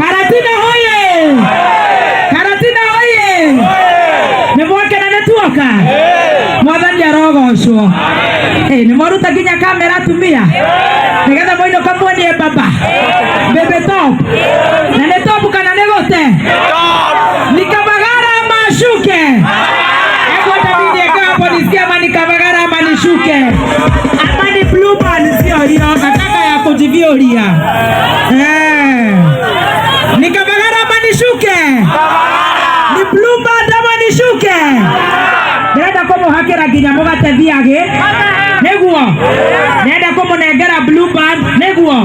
Karatina hoye! Karatina hoye! Nĩ mwakena nĩ tuoka? Mwathani arogocwo. Eh, nĩ mwaruta nginya kamera atumia? Nĩgetha mũinũka muonie baba. Bebe top. Na nĩ top kana nĩ gũte? Nikavagara ama ashuke? Hebu hata mimi niweke hapo nisikie ama nikavagara ama nishuke. Ama ni blue band sio hiyo, nataka ya kujiviuria. Eh. Ni Kabagara ama nishuke? Ni Bluebird ama nishuke? Ndĩrenda kũmũhakĩra nginya mũgate thiagĩ nĩguo ndĩrenda kũmũnengera Bluebird nĩguo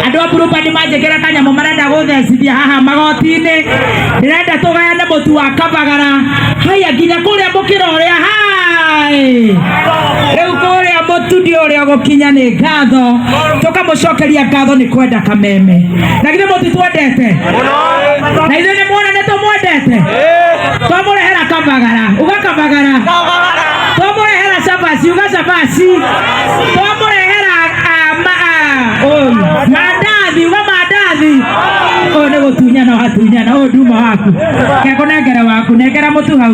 andũ a Bluebird manjĩkĩra kanyamũ marenda gũthecithia haha magoti-inĩ ndĩrenda tũgayane mũtu wa Kabagara haya nginya kũrĩa mũkĩra ũrĩa hai riu kuria mutundi uria gukinya ni ngatho tukamucokeria ngatho ni kwenda kameme na githe mutitwendete na ithuĩ nĩ muona nĩ tũmwendete twamũrehera kamagara ũgakamagara twamũrehera cabaci ũgacabaci twamũrehera ah, ma- ah, ũyũ, mandathi ũgamandathi ũyũ nĩ gũtunyana watunyana ũyũ nduma waku kekũnengere waku nengera mũtu hau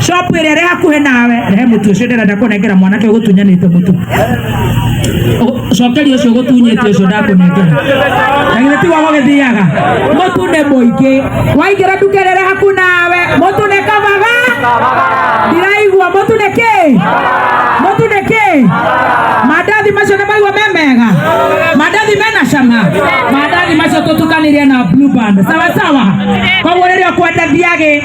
shopu ĩrĩa ĩrĩ hakuhĩ nawe rehe mũtu ũcio ndĩrenda kũnengera mwanake ũgũtunyanĩte mũtu Ũ- cokeria ũcio ũgũtunyĩte ũcio ndakũnengera na githĩ tiguo gũgĩthiaga mũtu nĩ mũingĩ waingĩra nduka ĩrĩa ĩrĩ hakuhĩ nawe mũtu nĩ kabaga ndiraigua mũtu nĩ kĩ mũtu nĩ kĩ mandathi macio nĩ maigua me mega mandathi mena cama mandathi macio tũtukanĩrie na blue band sawa sawa koguo rĩrĩa ũkwendathia gĩ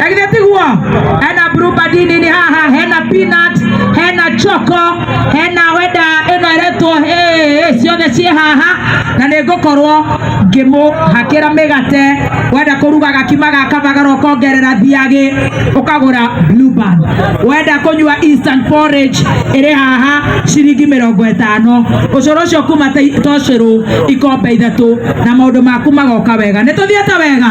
Lakini tiguo hena blue band nini haha hena peanut hena choco hena wenda ĩno ĩretwo ĩ ciothe ciĩ haha na nĩ ngũkorwo ngĩmũhakĩra mĩgate wenda kũruga gakima gaka magara ũkongerera thiagĩ ũkagũra blue band wenda kũnyua instant porridge ĩrĩ haha ciringi mĩrongo ĩtano ũcũrũ ũcio kuma ta- ta ũcũrũ ikombe ithatũ na maũndũ maku magoka wega nĩ tũthiĩte wega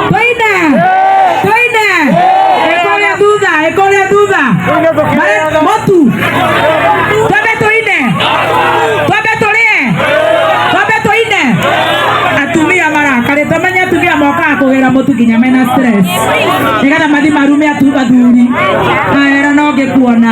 twaina twaina ekoria thutha ekoria thutha Mare- motu twambe tũine twambe tũrĩe twambe tũine atumia marakarĩte menye atumia mokaga kũgĩra mũtu nginya mena stress nĩgetha mathi marume atu- athuri aera no ngĩkuona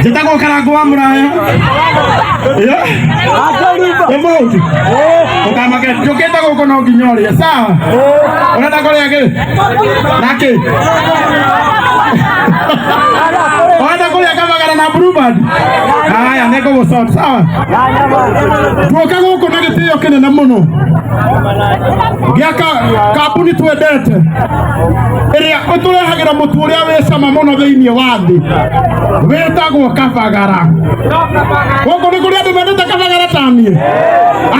njĩtagwo karango wa mũraya nĩ mũndũ ũkamake njũkĩte gũkũ no nginya ũrĩa sawa ũrenda kũrĩa kĩ nakĩ ũrenda kũrĩa kamagara na brubad haya nĩ ngũgũcot sawa tuoka gũkũ na gĩtĩo kĩnene mũno gĩa ka- kambuni twendete ĩrĩa ũtũrehagĩra mũtu ũrĩa wĩ cama mũno thĩinĩ wa thĩ wĩtagwo kabagara gũkũ nĩ kũrĩa andũ mendete kabagara ta niĩ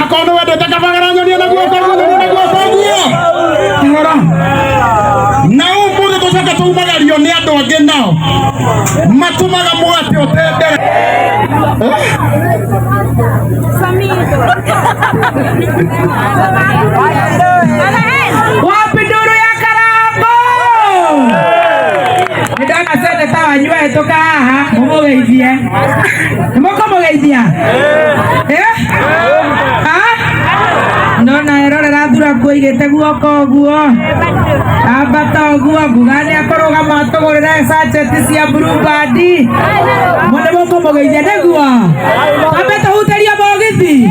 akorwo nĩ wendete kabagara nyonie na guoko guo nyonie na guoko guo kĩhora na ũmũthĩ tũcoke tũmagario nĩ andũ angĩ nao matũmaga mũgate ũtendere Wapi duru ya karambo? Nindona sende sawa nyua etoka haha mumugeithie. Nimukumugeithia? Eh? Ah? Ndona erorera thura kuigite guoko uguo. Ambata uguo nguga ni akorugama atugurire sacheti cia blue band. Mune mukumugeithia niguo. Ambe tuhuterie mogithi.